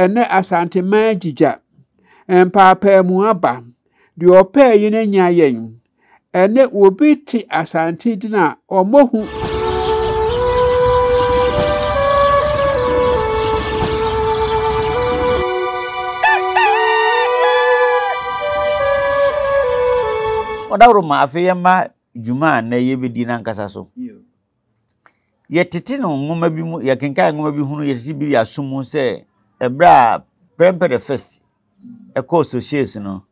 Ɛnnɛ Asanteman agyigya, mpaapaamu aba, deɛ ɔpɛɛ yɛn anya yɛn. Ɛnnɛ obi te Asante din a ɔmmɔ hu. Ɔdaworo ma afei yɛmma dwuma a nnɛ yɛbɛdi no ankasa so. Yɛtete no nwoma bi mu, yɛkenkan nwoma bi hunu yɛtete bi aso mu sɛ ɛberɛ a Prempeh the First ɛkɔɔ Sochies no,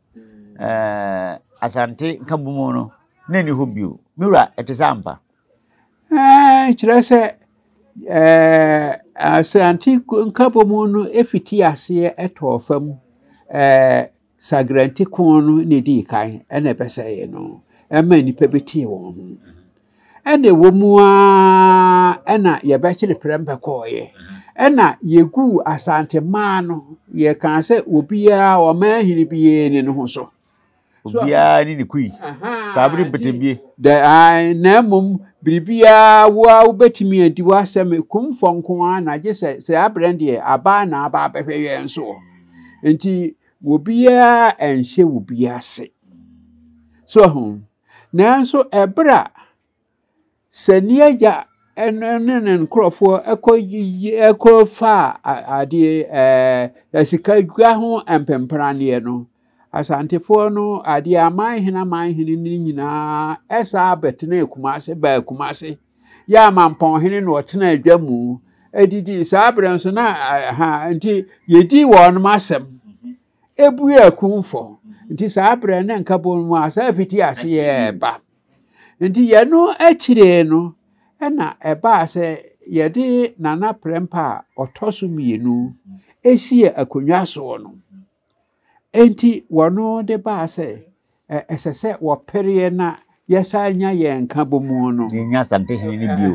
ɛɛ Asante nkabomu no, na ɛni hɔ bio. Me wura, ɛte sɛ ampa? Ɛɛ, kyerɛ sɛ ɛɛ Asante nkabomu no fiti aseɛ ɛtɔɔ fam ɛɛ. Sagrante ko no na edii kan na ɛbɛsɛee no. Ɛma nnipa bi tee wɔn ho. Ɛna ɛwɔ mu ara na yɛbɛkyere prɛmpɛ kɔɔeɛ. Ɛna yɛguu Asante mmaa no, yɛkaa sɛ obiara ɔmaa hene biara ni no ho so. Obiara ne ne kui. Kaabere mpetebie. Na mmom biribiara wo a wobɛtumi adi w'asɛm kumfɔ nko ara na gye sɛ sɛ aberɛ deɛ abaa na aba abɛhwɛ yɛn soɔ. nti obiara anhyɛ obi ase so ho nanso ɛberɛ a sɛ ne agya ɛne ne nkurɔfoɔ ɛkɔ yiyi ɛkɔ fa adeɛ ɛɛ sika dwa ho mpempraneɛ no asantefoɔ no adeɛ aman hene aman hene ne nyinaa ɛsaa bɛtena kumase baa kumase. yɛ amampɔnhene na ɔtena adwa mu didii saa berɛ nso na ha nti yɛdii wɔnom asɛm mhm. ɛbue akumfɔ mhm. nti saa berɛ ne nka bɔ mu a saa fiti ase yɛ ba nti yɛno akyire no ɛna ɛbaa sɛ yɛde nana prɛmpa a ɔtɔ so mmienu ɛsie mhm. akonnwa soɔ no Enti wɔno de baa sɛ ɛsɛ sɛ wɔpereɛ na yɛsan nya yɛn nkabomu no. Yɛnya Asante Hene no bio.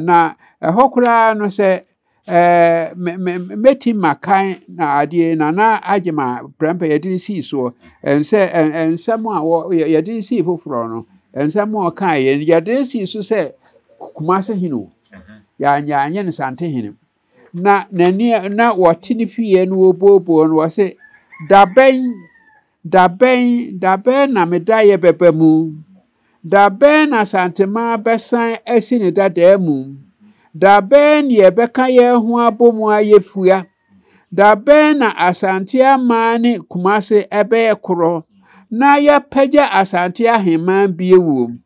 Na ɛhɔ koraa no sɛ mɛtim makan na adeɛ na na agye ma prɛmpɛ yɛde no sii soɔ ɛnsɛ nsɛm a yɛde no sii foforɔ no nsɛm a ɔkaeɛ no yɛde no sii so sɛ Kumase Hene o yɛanyɛ no Sante Hene na n'ani na wɔte ne fie no wɔbuobuo no wɔ se dabɛn dabɛn dabɛn na me da yɛ bɛba mu dabɛn na santema bɛsan asi ne dadaa mu dabɛn ne yɛbɛka yɛn ho abɔ mu ayɛ fua dabɛn na asante amaa ne kumase ɛbɛyɛ korɔ na yɛapagya asante ahemman bie wom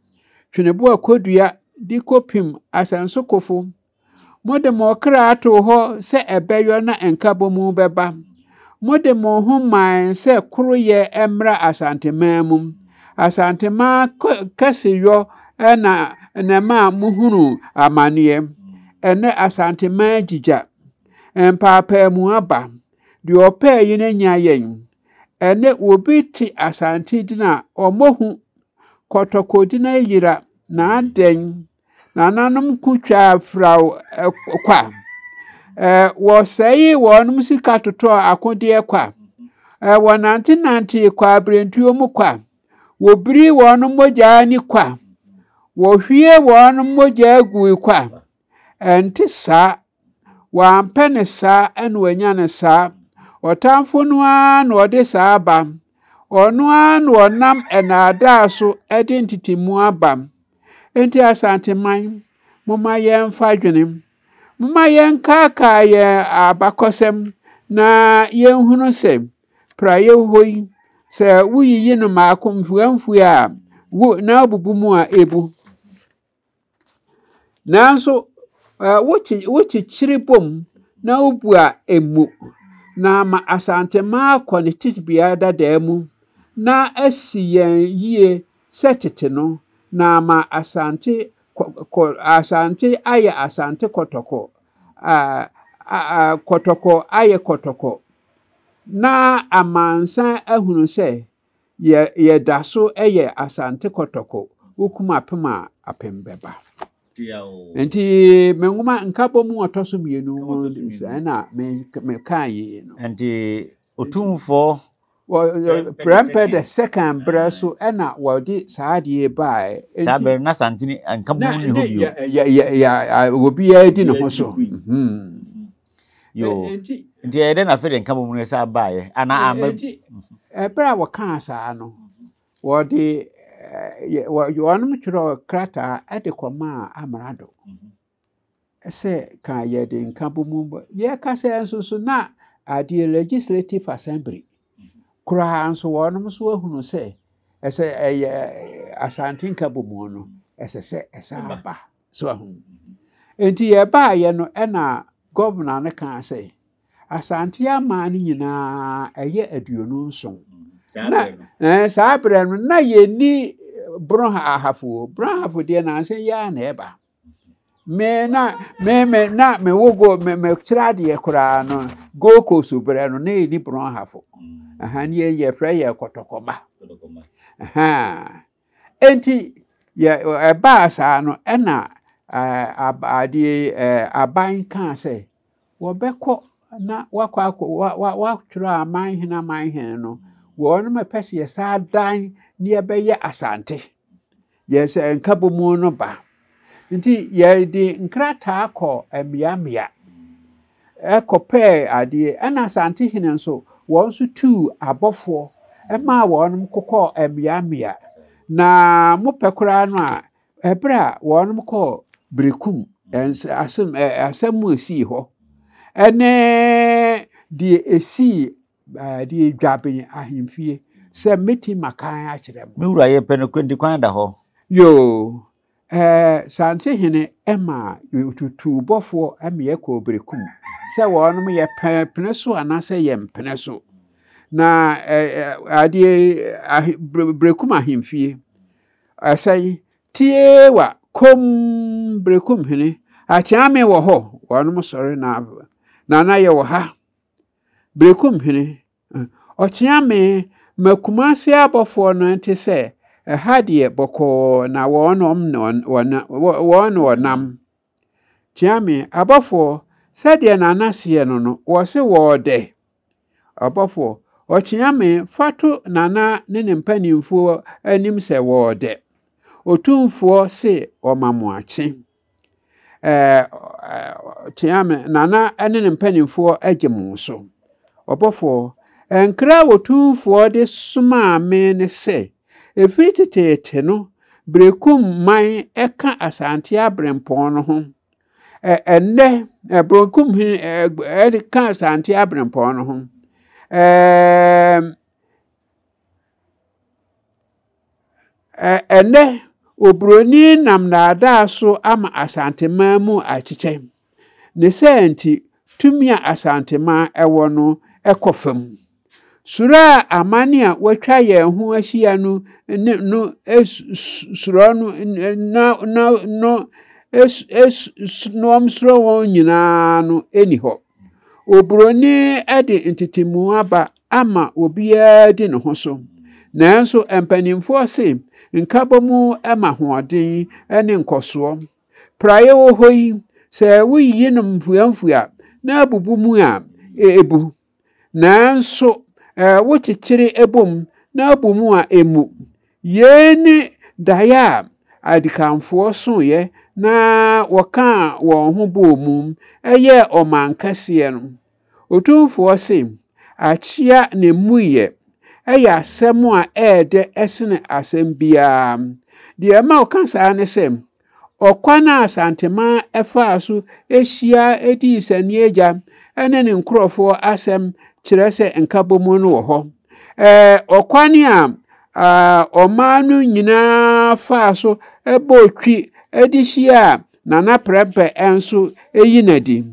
tweneboa kɔdua de kɔpim asansokofo Mode mo kra too hɔ sɛ ɛbɛyɔ na nkabomu bɛba. Mode mo ho mae sɛ koroyɛ mmra Asanteman mu. Asanteman kɛseyɔ na na ɛma mohunu amanneɛ. Ɛnnɛ Asanteman agyigya. Mpaapaamu aba. Deɛ ɔpɛɛ yɛn anya yɛn. Ɛnnɛ obi te Asante din a, ɔmmɔ hu. Kɔtɔkɔdin ayera, na adɛn? Nananom ko twaa firaw kwa. Wɔsɛee wɔn sika totɔɔ akodeɛ kwa. Wɔnantenantee kwaberentuo mu kwa. Wɔbiri wɔn mogya ni kwa. Wɔhwie wɔn mogya gui kwa. Ɛnte saa Wampɛ no saa na wanya no saa. Ɔtamfo no ara na ɔde saa aba. Ɔno ara na ɔnam nnaadaa so de ntetemu aba. Enti Asanteman, momma yɛmfa dwene. Momma yɛnkaakaa yɛn abakɔsɛm na yɛnhunu sɛ praeɛ hɔ yi, sɛ woyiyi no mmaako mfuamfua a, gu na abubu mu a, ɛbu. Nanso wokye wokyekyere bom na wobua emu na ama Asantema akɔ ne tebea dadaa mu na asi yɛn yie sɛ tete no na ama Asante kɔ, kɔ Asante ayɛ Asante kɔtɔkɔ, a, a, a, kɔtɔkɔ ayɛ kɔtɔkɔ na amansan ahunu sɛ Yɛ yɛda so yɛ Asante Kɔtɔkɔ wokum apem a apem bɛba. Nti me nwoma nkabɔ mu ɔtɔ so mmienu mu sɛ na me mekaa yi no. Nti otumfoɔ prɛmpɛ the second berɛ so ɛna wɔde saa adeɛ baeɛ. Saa berɛ na Santini nkabɔ mu nni hɔ bio. Obiara di ne ho so. Yo. Ɛ- Enti Nti ɛyɛ dɛ na afei de nka bɔ mu no ɛsɛ abaeɛ anaa ɛ- ama enti ɛberɛ a wɔkaa saa no wɔde eh, yɛ- wɔ- wɔnom twerɛ krataa de kɔmaa amrado sɛ ka yɛde nka bɔ mu bɔ- yɛka sɛ nso so na adeɛ legislative assembly koraa nso wɔnom nso ahunu sɛ ɛsɛ ɛyɛ asante nka bɔ mu no ɛsɛ sɛ ɛsɛ Ɛba. aba So ahu? Enti yɛbaeɛ no ɛna gɔvena no kaa sɛ Asante aman no nyinaa ɛyɛ aduonu nson. Mm, na eh, saa berɛ no na yɛni bronhahafoɔ bronhafo deɛ nansa yi ara na ɛba me na me me na me wo go me me kyerɛ adeɛ koraa no gold coast berɛ no na yɛni bronhafo mm. ɛha ne yɛfrɛ yɛ kɔtɔkɔma ɛha Enti, yɛ ɛbaa saa no, ɛna adeɛ aban kaa sɛ wɔbɛkɔ na wakɔ akɔ watwerɛ aman hene aman hene no wɔn mɛpɛ sɛ yɛsaa dan ne yɛbɛyɛ asante yɛsɛ nka bɔ mu no ba Nti yɛde nkrataa kɔɔ mmeammea kɔpɛɛ adeɛ. Ɛna Asantehene nso, wɔn nso tuu abɔfoɔ maa wɔn kokɔɔ mmeammea. Na mo pɛ koraa no a, ɛberɛ a wɔn kɔɔ Berekum, asɛm mu ɛsii hɔ, ɛne deɛ ɛsii Bɛde adwa me ahemfie. Sɛ mɛtim makan akyerɛ mo. Me wura yɛpɛ no kura di kwan da hɔ. Yoo ɛɛ sante hene ɛma tutuu bɔfoɔ ɛmeɛ kɔɔ berekum sɛ wɔnom yɛ pene so anaasɛ yɛ mpene so na adeɛ berekum ahemfie ɛsɛn tie wa kom berekum hene akyɛame wɔ hɔ wɔnom sɔre na nana yɛ wɔ ha Berekum hene, ɔkyea me ma Kumase abɔfoɔ no nte sɛ ɛha deɛ bɔkɔɔ na wɔnom wɔn wɔnam. Kyea me abɔfoɔ sɛdeɛ nana seɛ no no wɔse wɔɔdɛ. Ɔbɔfoɔ, ɔkyea me fa to nana ne ne mpanimfoɔ anim sɛ wɔɔdɛ. Otumfoɔ se wɔma mo akye. teaa me na na ɛne ne mpanimfoɔ agye mo so. Ɔbɔfoɔ, nkra a wɔtumfoɔ de somaa me ne sɛ, ɛfiri teteete no Berekum man ɛka Asante Aberempɔn no ho. Ɛnnɛ, Berekum hene ɛka Asante Aberempɔn no ho. Ɛnnɛ, oburoni nam nnaadaa so ama Asanteman mu akyekyɛ. Ne saa nti, tumi a Asanteman wɔ no kɔ fam. Suro a aman a wɔatwa yɛn ho ahyia no no suro no no no no nom suro wɔn nyinaa no nni hɔ. Oburoni de ntetemu aba ama obiara di ne ho so. Nanso mpanimfoɔ se nkabom ma hoɔden ne nkɔsoɔ. Praeɛ wɔ hɔ yi, sɛ woyiyi no mfuamfua na abubu mu a, ɛbu. Nanso wokyekyere bom na abu mu a, ɛmmu. Yei ne daeɛ a adikanfoɔ soeɛ na wɔkaa wɔn ho bɔɔ mu yɛɛ ɔman kɛseɛ no. Otumfoɔ se, Akyea na emmuiɛ. Ɛyɛ asɛm a ɛyɛ dɛ sene asɛm biara. Deɛ ɛma ɔka saa ne sɛ, ɔkwan a Santemaa faa so hyia dii Sanieagya ne ne nkurɔfoɔ asɛm kyerɛ sɛ nkabom no wɔ hɔ. Ɛɛ ɔkwan a ɔman no nyinaa faa so bɔɔ twi de hyiaa Nana Prɛmpɛ nso yi no adi.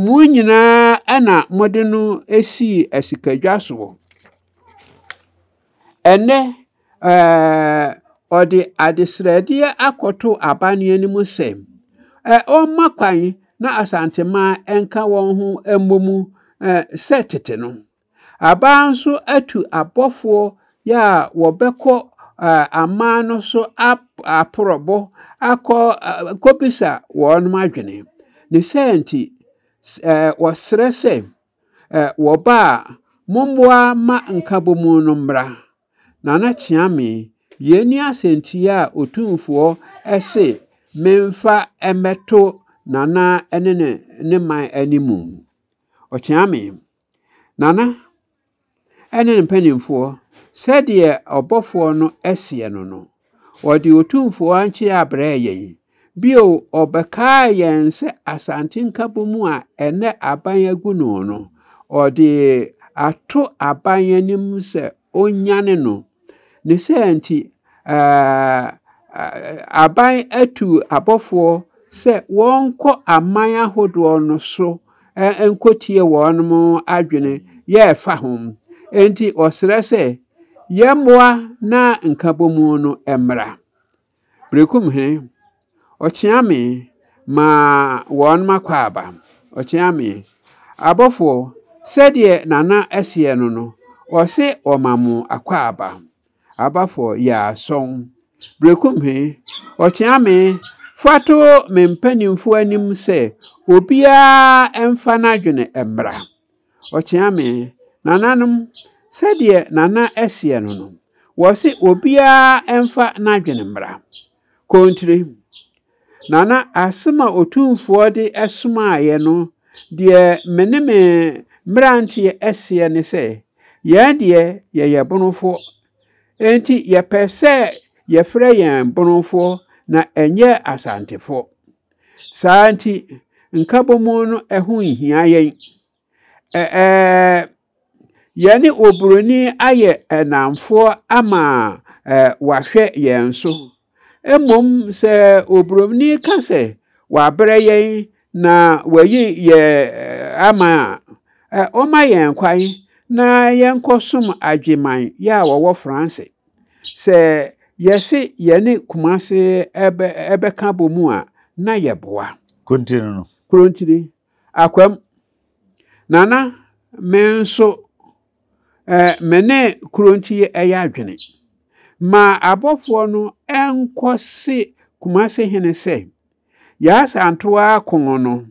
Mo nyinaa na mode no sii asikadwa soɔ. Ɛnnɛ, ɔde adesrɛdeɛ akɔto abanneɛ no mu sɛ ɔmma kwan na Asanteman nka wɔn ho mmɔ mu sɛ tete no. Abaa nso atu abɔfoɔ yɛ a wɔbɛkɔ aman no so aporɔbo akɔ kɔbisa wɔnom adwene. Ne saa nti, wɔsrɛ sɛ, wɔba a, mommoa ma nkabomu no mmra. Nana Kyeame, yei ne asɛntiiɛ a Otumfoɔ se memfa mmɛto Nana ne ne man animu. Ɔkyeame. Nana ne ne mpanimfoɔ, sɛdeɛ ɔbɔfoɔ no seɛ no no, ɔde Otumfoɔ ankyerɛ abrɛɛ yɛn. Bio, ɔbɛkaa yɛn sɛ Asante Nkabom a ɛnɛ aban agu no no, ɔde ato aban anim sɛ ɔnnyane no. Ne saa nti, aban atu abɔfoɔ sɛ wɔnkɔ aman ahodoɔ no so nkɔtie wɔn adwene yɛ ɛfa ho. Enti ɔsrɛ sɛ yɛmmoa na nkabɔmu no mmra. Berekum he, ɔkyea me maa wɔn m'akwaaba. Ɔkyea me. Abɔfoɔ, sɛdeɛ Nana ɛseɛ no no, ɔse ɔma mo akwaaba. Abafoɔ, yaa sɔn. Berekum he, ɔkyea me fato me mpaninfoɔ anim sɛ obiara mfa n'adwene mmra. Ɔkyea me. Nananom, sɛdeɛ Nana ɛseɛ no no, wɔse obiara ɛmfa n'adwene mmra. Kontire. Nana, asem a Otumfoɔ de ɛsomaeɛ no, deɛ me ne me mmeranteɛ ɛseɛ ne sɛ, yɛn deɛ yɛyɛ Bonofoɔ, enti yɛpɛ sɛ yɛfrɛ yɛn Bonofoɔ na ɛnyɛ Asantefoɔ. Saa ara nti, nkabom no ho nhia yɛn. Ɛɛ, yɛne oburoni ayɛ nnamfoɔ ama wahwɛ yɛn so. Mmom sɛ oburoni ka sɛ wabrɛ yɛn na wayi yɛn ama a, ɔma yɛn kwan na yɛnkɔsom adweman yɛ a wɔwɔ Franse. Sɛ yɛse yɛne Kumase bɛka abɔ mu a, na yɛboa. Kurontiri no no. Kurontiri. Akwam. Nana, me nso, eh, me ne Kurontiri yɛ adwene. Ma abɔfoɔ no nkɔ se Kumase hene sɛ, Yaasa ntoa kɔn no,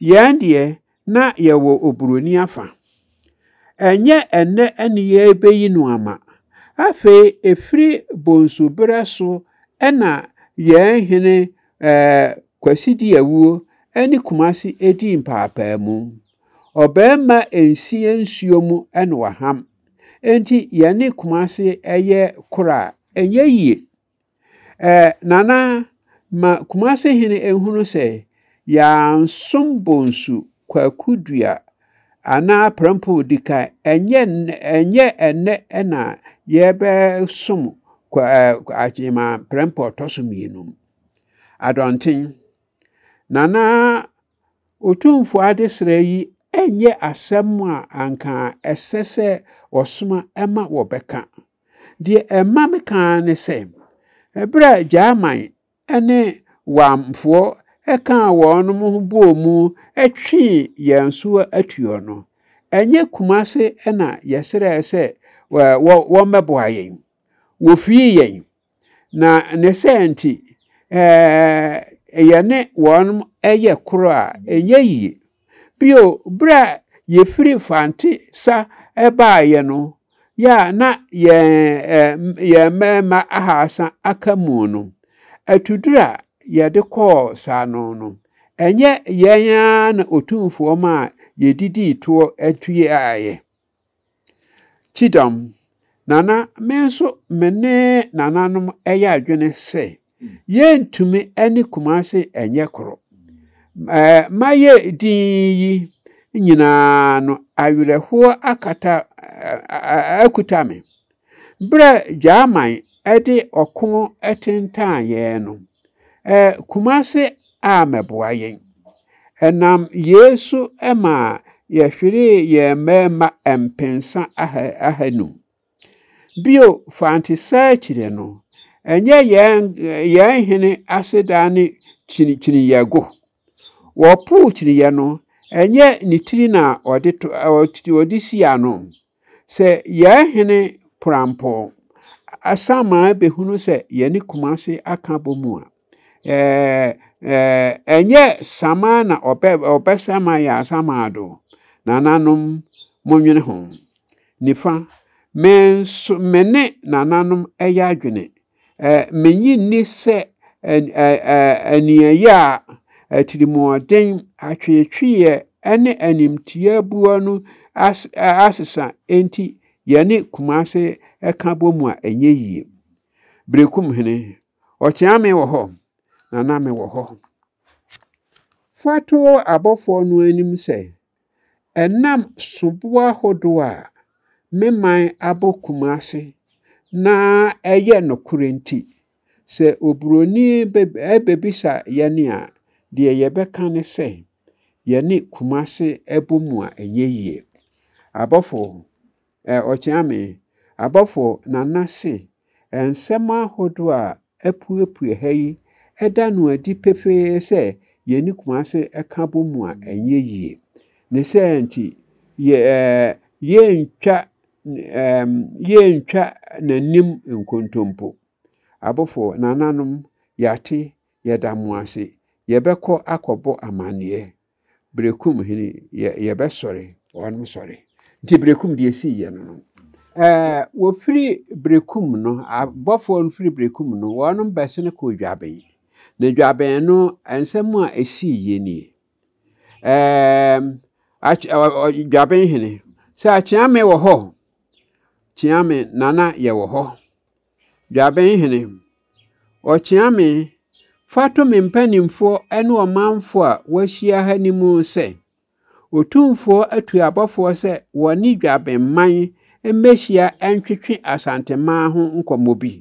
yɛn deɛ na yɛwɔ oburoni afa. Ɛnyɛ ɛnnɛ ne yɛrebeyi no ama. Afei ɛfiri bonsu berɛ so na yɛn hene ɛɛ Kwasi di awuo ne Kumasi di mpaapaamu. Ɔbarima nsie nsuo mu na waham. Enti yɛne Kumasi yɛ koro a, ɛnyɛ yie. Eh, Nana, ma Kumase hene nhunu sɛ yɛansom bonsu kwaku dua anaa prɛmpoo di kan. Ɛnyɛ ɛnyɛ ɛnnɛ na yɛbɛsom akyema prɛmpoo ɔtɔ so mmienu. Adɔnten, Nana Otumfo adesrɛ yi ɛnyɛ asɛm a anka ɛsɛ sɛ wɔsoma ma wɔbɛka. Deɛ ɛma me ka ara ne sɛ, ɛberɛ a Gyaman ne Wamfoɔ kaa wɔn ho bɔɔ mu twee yɛn so atuo no, ɛnyɛ Kumase na yɛsrɛɛ sɛ wɔmmɛboa yɛn. Wɔfirii yɛn, Na ne sɛ nti, yɛne wɔn yɛ koro a, ɛnyɛ yie. Bio, berɛ a yɛfiri Fante sa baeɛ no, yɛ a na yɛn mmarima ahaasa aka mu no, atuduro a yɛde kɔɔ saano no, ɛnyɛ yɛn ara na Otumfoɔ maa yɛdidii toɔ tueeɛ. Kyidɔm, Nana, me nso me ne nananom yɛ adwene sɛ yɛntumi ne Kumase nyɛ koro. Mayɛ din yi nyinaa no, awerɛhoɔ akata akuta me. Bere a Gyaman de ɔko tentan yɛn no, Kumase ammɛboa yɛn. Ɛnam yei so maa yɛhweree yɛn mmarima mpensa ahanum. Bio, Fante saa akyire no, ɛnyɛ yɛn hene aseda ne kyinikyiniyɛ go. Wɔpoo kyiniyɛ no, ɛnyɛ ne tiri na ɔde si ano. Sɛ yɛn hene porampɔɔ asaman bɛhunu sɛ yɛne Kumase aka bɔ mu a, ɛnyɛ saman na ɔbɛ ɔbɛsɛma yɛ asaman do. Nananom, monwene ho. Nifa, me nso me ne nananom ɛyɛ adwene Minnye nni sɛ aniɛyɛ a atirimɔden, atweetweeɛ, ne animtiaabuo no asesa nti yɛne Kumase ka bom a, ɛnyɛ yie. Berekum hene, Ɔkyeame wɔ hɔ, na na mewɔ hɔ. Fa to abɔfoɔ no anim sɛ, Ɛnam soboa hodoɔ a me man abɔ Kumasi na ɛyɛ nokorɛ nti, sɛ oburoni bɛbisa yɛn a, deɛ yɛbɛka ne sɛ, yɛne Kumasi bɔ mu a ɛnyɛ yie. Abɔfo Eh, ɔkyea me. Abɔfo Nana se eh, nsɛm ahodoɔ a apuepue ha yi ɛda no adi pefee sɛ yɛne Kumase ka bɔ mu a ɛnyɛ yie. Ne sɛ nti yɛ eh, yɛntwa eh, yɛntwa n'anim nkontompo. Abɔfo Nananom, yɛate, yɛda mo ase. Yɛbɛkɔ akɔbɔ amanneɛ. Berekum hene yɛ yɛbɛsɔre wɔn sɔre nti Berekum deɛ esii yɛ no no ɛɛ wɔfiri Berekum no abɔfoɔ no firi Berekum no wɔn bɛsene kɔɔ Dwabɛn na Dwabɛn no nsɛm a esii yɛ nie ɛɛ Dwabɛn hene sɛ Kyeame wɔ hɔ Kyeame nana yɛ wɔ hɔ. Dwabenhene, ɔkyea me, fa to me mpanimfoɔ ne ɔmanfoɔ a wɔahyia ha no mu sɛ, Otumfoɔ atu abɔfoɔ sɛ wɔne Dwabenman mmɛhyia ntwetwe Asanteman ho nkɔmmɔ bi.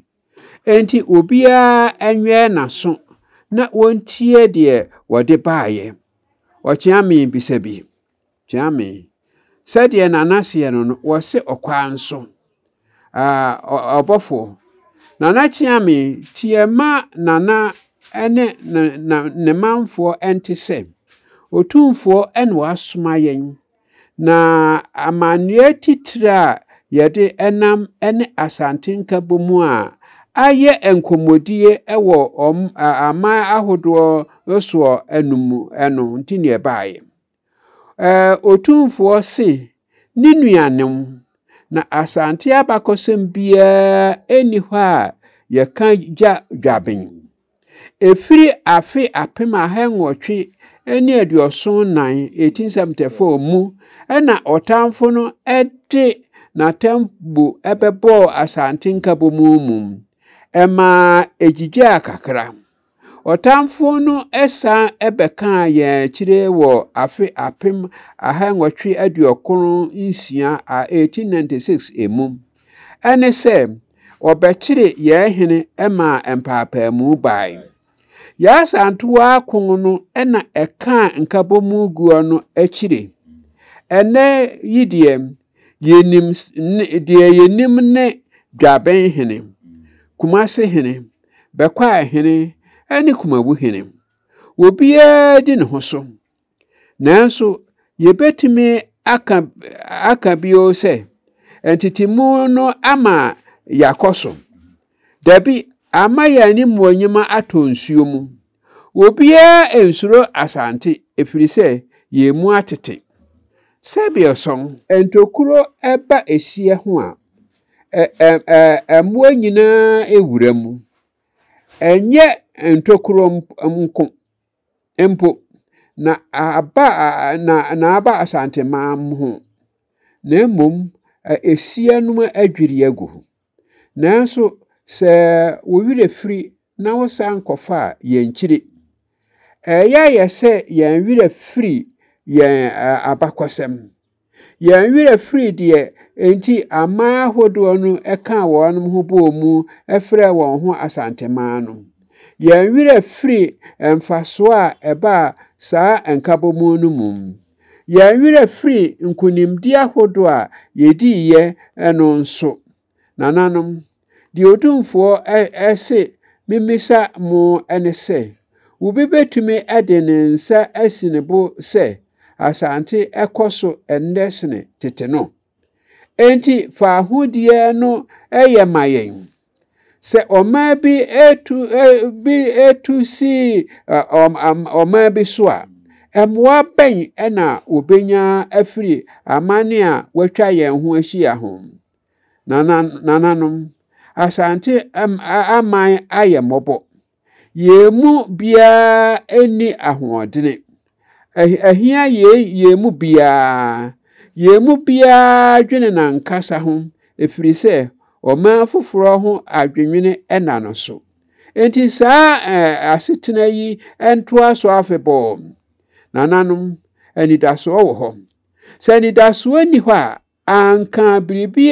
Enti obiara nwɛn n'aso na wɔntie deɛ wɔde baeɛ. Ɔkyea me bisa bi. Kyame, Sɛdeɛ Nana seɛ no no, wɔse ɔkwaa nso. Ah, ɔbɔfoɔ. Nana Kyame, teɛ ma Nana ne ne manfoɔ nte sɛ, Otumfoɔ na wasoma yɛn, na amanneɛ titire a yɛde nam ne Asante Nkabom a ayɛ nkɔmmɔdie wɔ wɔn aman ahodoɔ soɔ no mu no nti na ɛbaeɛ. Ɛɛ, Otumfoɔ se, ne nuanom, na Asante abakɔsɛm biara nni hɔ a yɛka gya dwaben. Ɛfiri afe apem ahannwɔtwe ne aduɔson nnan, 1874, mu na ɔtamfo no de n'atambo bɛbɔɔ Asante Nkabɔmu mu, ɛmaa ɛgyigyaa kakra. Ɔtamfo no san bɛkaa yɛn akyire wɔ afe apem aha nwɔtwe aduokron nsia a 1896 emu. Ɛne sɛ, wɔbɛkyere yɛn hene maa mpaapaamu bae. Yɛn Asantewaa ko no na ɛkaa nkabɔmu guɔ no akyire. Ɛnnɛ yi deɛ, Yɛnim ne, deɛ yɛnim ne Dwaben hene, Kumase hene, Bɛkwaa hene ne Kumawu hene. Obiara di ne ho so. Nanso, yɛbɛtumi aka, aka bio sɛ, ntetemu no ama yɛakɔ so? Dabi, ama yɛn animuonyam atɔ nsuo mu. Obiara nsuro Asante ɛfiri sɛ yɛn mu atete. Sɛdeɛ sɔn. Ntokuro ba ɛhyeɛ ho a, ɛ-ɛ-ɛ mmoa nyinaa wura mu. Ɛnyɛ ntokuro nko mpo na aba na na aba Asanteman ho, na mmom ɛhyeɛ no adwiri agu. Nanso sɛ wo werɛ firi na wosan kɔfa a, yɛnkyiri. Ɛyɛ a yɛ sɛ yɛn werɛ firi yɛn abakɔsɛm. Yɛn werɛ firi deɛ enti aman ahodoɔ no kaa wɔn ho bɔɔ mu frɛɛ wɔn ho Asanteman no. Yɛn werɛ firi mfasoɔ a ɛbaa saa nkabɔmu no mu. Yɛn werɛ firi nkonimdie ahodoɔ a yɛdiiɛ no nso. Nananom, deɛ odumfoɔ se memmisa mo ne sɛ, wobi bɛtumi de ne nsa asi ne bo sɛ Asante kɔ so ɛnnɛ sene tete no? Enti faahodie no yɛ ma yɛn. Sɛ ɔman bi tu bi tu si ɔman bi so a, mmoa bɛn na wɔbɛnya afiri amane a wɔatwa yɛn ho ahyia ho? Nananom, Asante aman ayɛ mmɔbɔ. Yɛn mu biara nni ahoɔdene. Ɛhia yei yɛn mu biara. Yɛn mu biara dwene n'ankasa ho ɛfiri sɛ ɔman foforɔ ho adwennwene ɛna no so. Enti saa asetena yi ntoa so afebɔɔ. Nananom, anidasoɔ wɔ hɔ. Sɛ anidasoɔ nni hɔ a, Anka biribi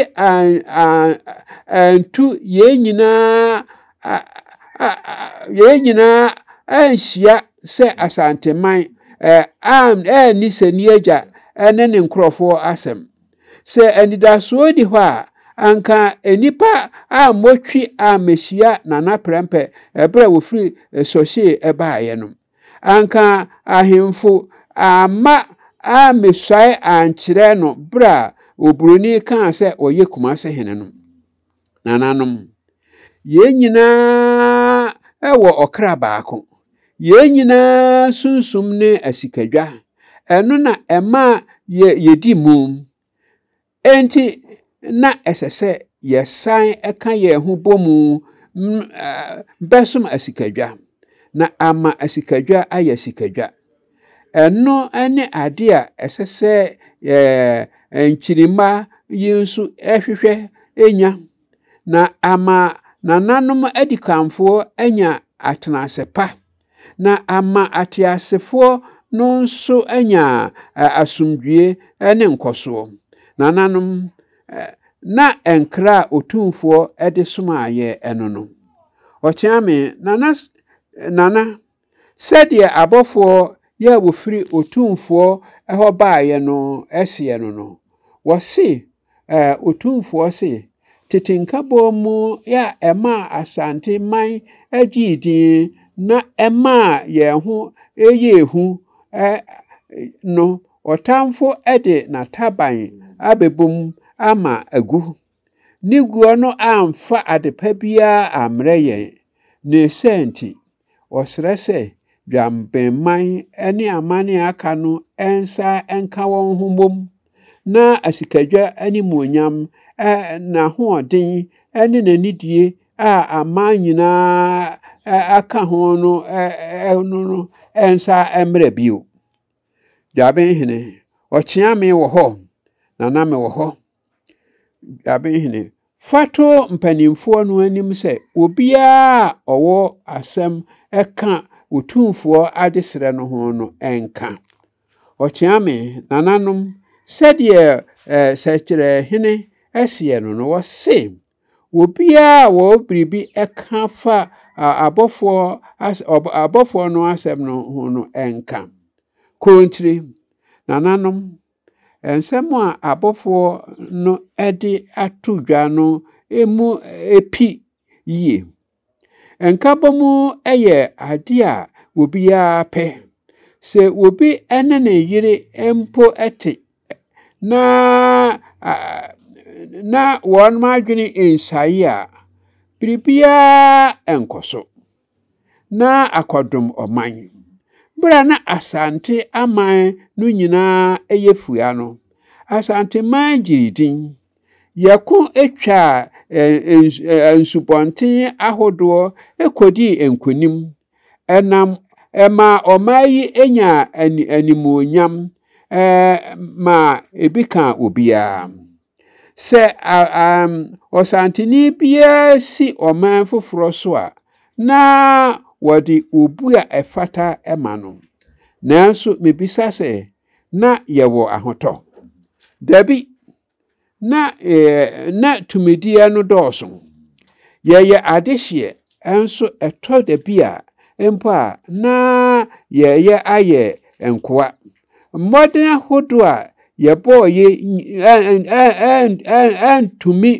antu yɛn nyinaa anhyia sɛ Asanteman anni Sani Agya ne ne nkurɔfoɔ asɛm. Sɛ anidasoɔ nni hɔ a, anka nnipa ammɔ twi ammɛhyia Nana Prɛmpɛ berɛ a wɔfiri Sɔhyee baeɛ no. Anka ahemfo amma ammesuae ankyerɛ no bere a oburoni kaa sɛ ɔyɛ Kumase hene no. Nananom, yɛn nyinaa wɔ ɔkra baako. Yɛn nyinaa sunsum ne asikadwa. Ɛno na ɛma yedi mum. Enti, na ɛsɛ sɛ yɛsan ka yɛn ho bɔ mu bɛsom asikadwa, na ama asikadwa ayɛ asikadwa. Ɛno ne ade a ɛsɛ sɛ nkyirimma yi nso hwehwɛ nya, na ama nananom adikanfoɔ anya atenase pa. na ama ateasefoɔ no nso anya asomdwoeɛ ne nkɔsoɔ. Nananom, na nkra a Otumfoɔ de somaa yɛn no no, Ɔkyeame, Nana, Nana, sɛdeɛ abɔfoɔ yɛ a wɔfiri Otumfoɔ hɔ baeɛ no seɛ no no, wɔse eh, Otumfoɔ se, Tete nkabom mu a ɛmaa Asante man gyee din na ɛmaa yɛn ho yɛɛ hu eh, no, ɔtamfo de n'ataban abɛbom ama agu. Ne guo no amfa adepa biara ammrɛ yɛn. Ne sɛn nti? Wɔsrɛ sɛ Dwamamman ne aman a aka no nsa nka wɔn ho mmom na asikadwa animuonyam, n'ahoɔden ne n'anidie a aman nyinaa ka ho no no nsa mmra bio. Dwabenhene, ɔkyeame wɔ hɔ, na na mewɔ hɔ. Dabenhene, fa to mpanimfoɔ no anim sɛ obiara a ɔwɔ asɛm ka Otumfoɔ adesrɛ no ho no nka. Ɔkyeame, nananom, sɛdeɛ eh, Sɛkyerɛhene seɛ no no, wɔse, obiara a wɔwɔ biribi ka fa abɔfoɔ, abɔfoɔ no asɛm no ho no nka. Korontire, nananom, Nsɛm a abɔfoɔ no de ato dwa no mu pi yie. Nkabom yɛ adeɛ a obiara pɛ. Sɛ obi ne ne yere mpo te na na wɔn adwene nsae a, biribiara nkɔ so. na akɔdom ɔman. Bere a na Asante aman no nyinaa yɛ fua no, Asanteman gyee din. Yɛko twaa nsubɔnten ahodoɔ kɔdii nkonim. Ɛnam ɛmaa ɔman yi nyaa animuonyam ma ebi kaa obiara. Sɛ um, ɔsanteni biara si ɔman foforɔ so a, na wɔde obu a ɛfata ma no. Nanso mebisa sɛ, na yɛwɔ ahotɔ? Dabi, na, eh, na tumideɛ no dɔɔso. Yɛyɛ adehyeɛ, nso ɛtɔ da bi a mpo a na yɛyɛ ayɛ nkoa. Mmɔden ahodoɔ a yɛbɔɔ yi antumi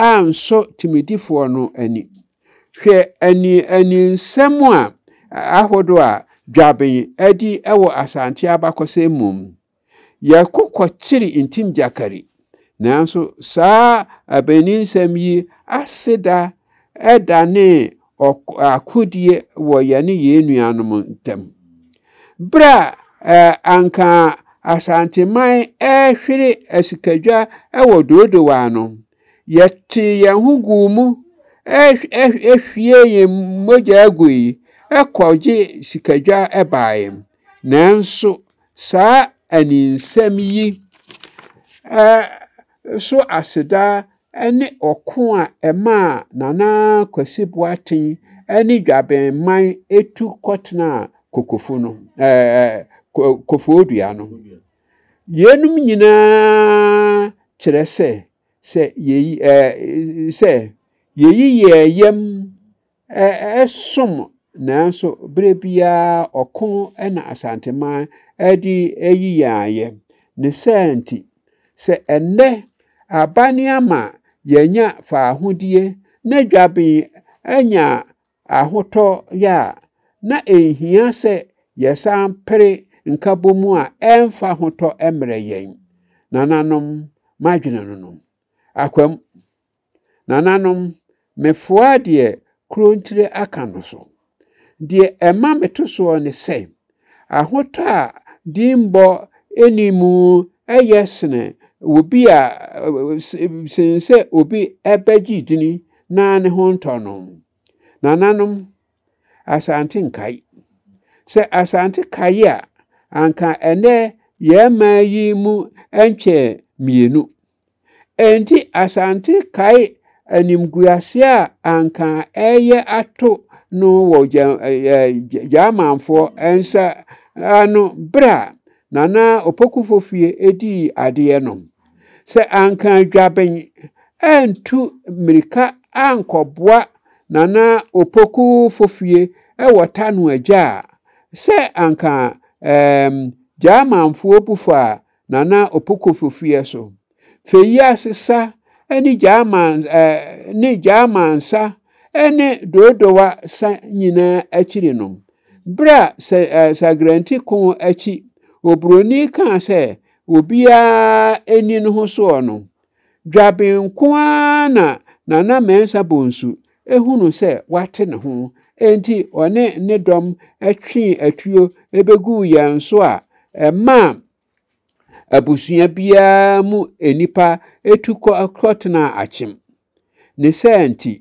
ansɔ timidifoɔ no ani. Hwɛ aniɛninsɛm a ahodoɔ a Dwaben adi wɔ Asante abakɔsɛm mu. Yɛko kɔkyere Ntim Gyakari, nanso saa abaninsɛm yi aseda danee akodie wɔ yɛne yɛn nuanom ntam. Berɛ a anka Asanteman rehwere asikadwa wɔ Doodowaa no, yɛtee yɛn ho guu mu hwie yɛn mogya gui kɔgye sikadwa baeɛ. Nanso saa aninsɛm yi so aseda ne ɔko a ɛmaa Nana Kwasi Boateng ne Dwabɛnman tu kɔtenaa Kokofo no, ɛɛ, Kofoɔdua no. Yeinom nyinaa kyerɛ sɛ, sɛ yɛyi, ɛɛ, sɛ yɛyi yɛn yam ɛsom nanso berɛ biara ɔko na Asanteman de yi yɛn ayɛ. Ne saa nti, sɛ ɛnnɛ aban ama yɛanya faahodie na dwaben anya ahotɔ yɛ a, na ɛnhia sɛ yɛsan pere nkabom a ɛmfa ahotɔ mmrɛ yɛn. Nananom, m'adwene no no, akwam Nananom, mefoaa deɛ kurontire aka no so. Deɛ ɛma meto soɔ ne sɛ, ahotɔ a dimmɔ nni mu yɛ sene obi a sene sɛ obi bɛgye dini na ne ho ntɔ no. Nananom, Asante nkae. Sɛ Asante kae a, anka ɛnɛ yɛn man yi mu nkyɛ mmienu. Enti Asante kae animguaseɛ a anka ɛreyɛ ato no wɔ Gyamanfoɔ nsa ano berɛ a Nana Opokufo fie dii adeɛ no. Sɛ anka Dwaben antu mmirika ankɔboa Nana Opokufo fie wɔ Tano agya a, sɛ anka Gyamanfoɔ bu faa Nana Opoku Fofua so. Feyi Asesa ne Gyaaman ne Gyaaman sa ne Dodowa sa nyinaa akyiri no, bere a Sagrenti ko akyi oburoni kaa sɛ obiara nni ne ho soɔ no, Dwaben nko ara na Nana Mensah Bonsu hunu sɛ wate ne ho, enti ɔne ne dɔm twee atuo beguu yɛn so a ɛmaa abusua biara mu nnipa tu kɔtenaa Akyem. Ne saa nti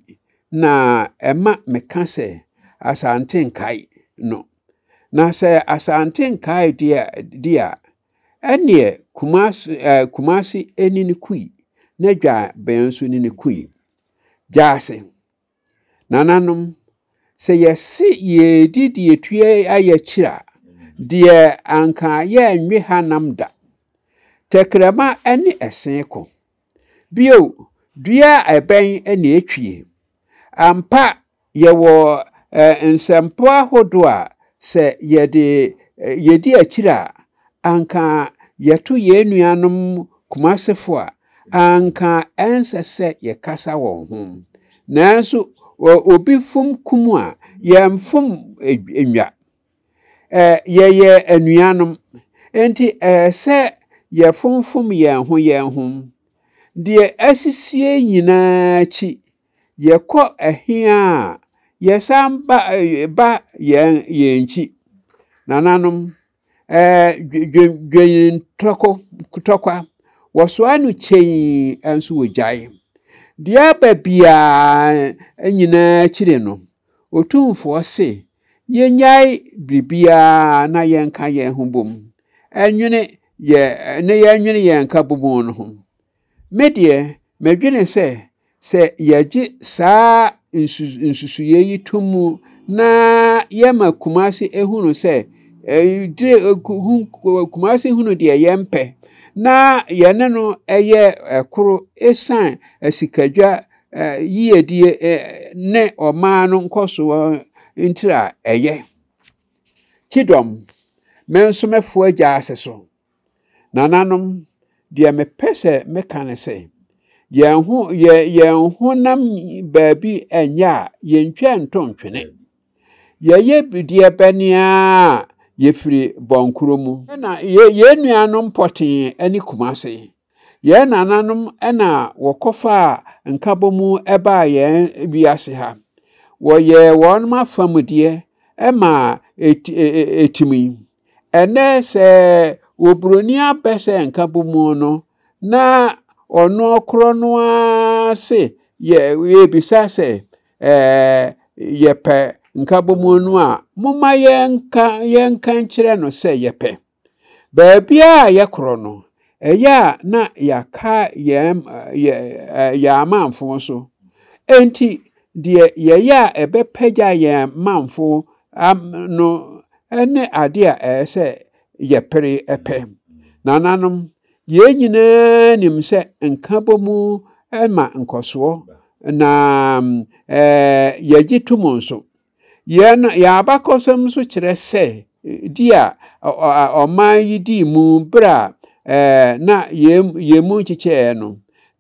na ɛma meka sɛ Asante Nkae no. Na sɛ Asante Nkae de a, Ɛnneɛ Kumasi ɛɛ Kumasi ɛni ne kui na dwa bɛn nso ne ne kui. Gyaase. Nananom sɛ yɛse yɛredi deɛ ɛtua ayɛ akyiri a deɛ anka yɛnnwe ha nam da. Tɛkrɛma ɛne ɛsee ko. Bio, dua a ɛbɛn na etwie. Ampa, yɛwɔ nsɛmpa ahodoɔ a sɛ yɛde yɛdi akyire a, anka yɛto yɛn nuanom Kumasefo a, anka ɛnsɛ sɛ yɛkasa wɔn ho. Nanso, obi fom kum a, yɛmfom nnwa. Yɛyɛ anuanom, enti ɛsɛ sɛ yɛfomfom yɛn ho yɛn ho. Deɛ asisie nyinaa akyi, yɛkɔ ɛhe a, yɛsan ba ba yɛn yɛn nkyi. Nananom, dwennwentɔkwa tɔkwa, wɔsoa no kyɛyi nso wɔgyae. Deɛ aba biara nyinaa akyiri no, Otumfoɔ se yɛnnyae biribiara na yɛnka yɛn ho bom nwene yɛ ne yɛnwene yɛn nka bom no ho. Me deɛ, medwene sɛ sɛ yɛgye saa nsu nsusuiɛ yi to mu na yɛma Kumasi ehunu sɛ dire Kumasi hunu deɛ yɛmpɛ na yɛne no yɛ ɛkoro esan asikadwa yiedie ne ɔman no nkɔsoɔ ntira a ɛyɛ. Kyidɔm, me nso mɛfoɔ agya ase so. Nananom, deɛ mepɛ sɛ meka ne sɛ, yɛn ho yɛ yɛn honam baabi nyɛ a yɛntwa nto ntwene. Yɛyɛ deɛ bɛne a yɛfiri bɔnkoro mu. Na yɛn nuanom pɔtee ne kumase. Yɛn nananom na wɔkɔfaa nkabɔmu baa yɛn wiase ha. Wɔyɛɛ wɔn afamudeɛ ma ɛtumi. Ɛnnɛ sɛ oburoni abɛ sɛ nkabɔmu no, na ɔno korɔ no ara se yɛbisa sɛ yɛpɛ nkabɔmu no a, momma yɛnka nkyerɛ no sɛ yɛpɛ. Baabiara a yɛkorɔ no, ɛyɛ a na yɛaka yɛn yɛn amamfõ so. Enti deɛ yɛyɛ a ɛbɛpagya yɛn mamfõ no ne adeɛ a ɛyɛ sɛ yɛpere pɛ. Nananom, yɛn nyinaa nim sɛ nkabom ma nkɔsoɔ, na yɛgye tom nso. Yɛn yɛn abakɔsɛm nso kyerɛ sɛ di a ɔman yi dii mu berɛ a na yɛn mu nkyekyɛeɛ no,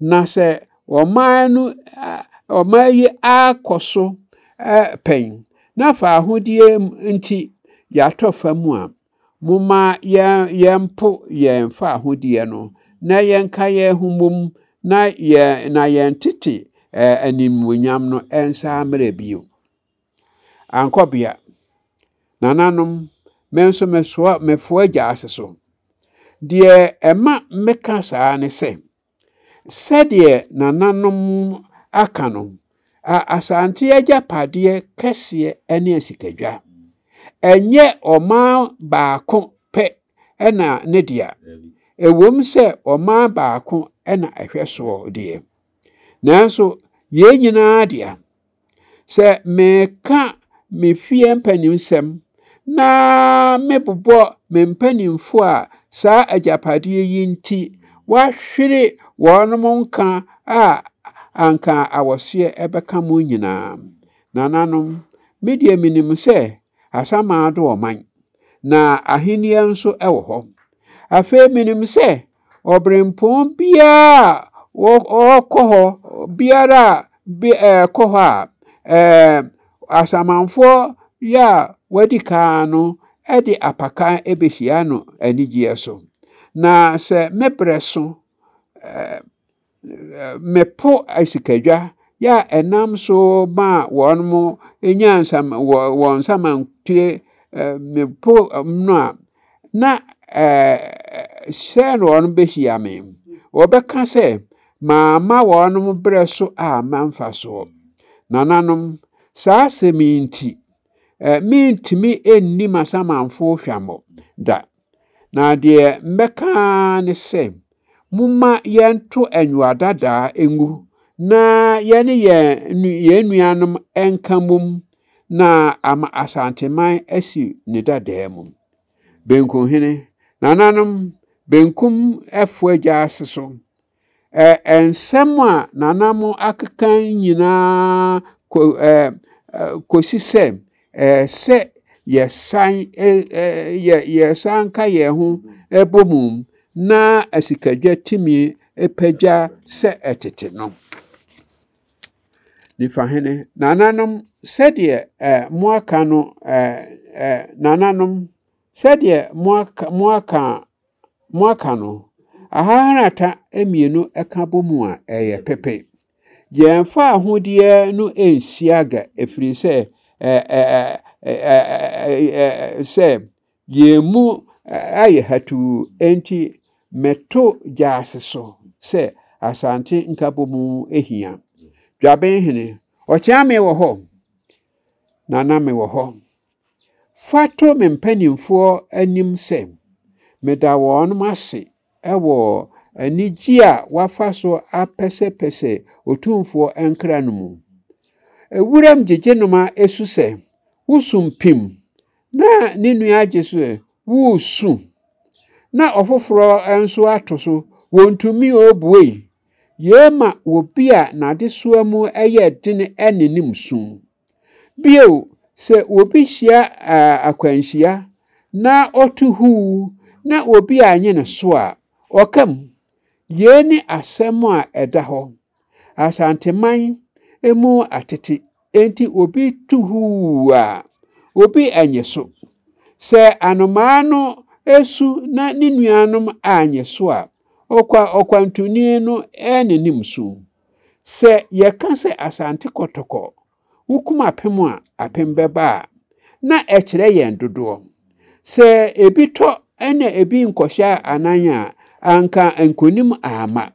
na sɛ ɔman no ɔman yi akɔ so pɛn na faahodie nti yɛatɔ fa mu a, Momma yɛmpo yɛn faahodie no, na yɛnka yɛn ho mmom, na yɛn tete animuonyam no nsa mmerɛ bio. Ankɔbea, nananom, me nso mesoa mefoa gyaase so. Deɛ ɛma meka saa ne sɛ, Sɛdeɛ nananom aka no, a Asante agyapadeɛ kɛseɛ ne asikadwa. Ɛnyɛ ɔman baako pɛ na ne dea, ɛwom sɛ ɔman baako na ɛhwɛ soɔ deɛ, nanso yei nyinaa dea. Sɛ meka me fie mpanisɛm na mebobɔ me mpanimfo a saa agyapadeɛ yi nti wɔahwere wɔn nka a anka awɔseɛ ɛbɛka mo nyinaa. Nananom, me deɛ menim sɛ asamado ɔman, na ahennie nso wɔ hɔ. Afei menim sɛ Ɔberempɔn biara a wɔkɔ hɔ biara a bi ɛkɔ hɔ a ɛɛ asamanfoɔ yɛ a wɔadi kan no de apakan bɛhyia no anigyeɛ so. Na sɛ me berɛ so ɛɛ. mɛpo asikadwa yɛ a ɛnam so maa wɔn mo nya nsam wɔ wɔn nsamankyerɛ mɛpo no a na sɛ na wɔn bɛhyia me wɔbɛka sɛ maama wɔn mo berɛ so a mamfa soɔ nananom saa asɛm yi nti mentumi nni m'asamanfoɔ hwammɔ da Na deɛ mɛka ara ne sɛ, momma yɛnto anwuadadaa ngu na yɛne yɛn yɛn nuanom nka mmom na ama Asanteman asi ne dadaa mu. Benkuhene, nananom, benkum ɛfoɔ agya ase so. nsɛm a nana mo akeka nyinaa kɔsi sɛ sɛ yɛsan yɛsan ka yɛn ho bɔ mu na asikadwa tumi pagya sɛ ɛtete no. Nifahene, nananom, sɛdeɛ moaka no nananom, sɛdeɛ moaka moaka no, ahaharata mmienu ka bɔ mu a, ɛyɛ pepe. Yɛmfa ahodeɛ no nsi aga, ɛfiri sɛ, sɛ yɛn mu ayɛ hatuu, enti meto gyaase so sɛ Asante nkabɔmu hia. Dwabenhene, Ɔkyeame wɔ hɔ? Nana, mewɔ hɔ. Fa to me mpanimfoɔ anim sɛ meda wɔn ase wɔ anigye a wɔafa so apɛsɛpɛsɛ Otumfoɔ nkra no mu. Wuram gyegyenoma su sɛ, woso mpim, na ne nua agye so sɛ, woresu, na ɔfoforɔ nso ato so, wɔntumi obuei. Yei ma obi a n'adesoa mu yɛ den ne nim sum. Bio, sɛ obi hyia akwanhyia na ɔto huu na obi anyɛ no so a, ɔka mu. Yei ne asɛm a ɛda hɔ. Asanteman mu atete enti obi to huu a, obi anyɛ so. Sɛ anomaa no su na ne nuanom anyɛ so a, ɔkwa ɔkwantuni no ne nim so. Sɛ yɛka sɛ Asante Kɔtɔkɔ, wokum apem a, apem bɛba a, na ɛkyerɛ yɛn dodoɔ. Sɛ ebi tɔ na ebi nkɔhyɛ anan a, anka nkonim amma.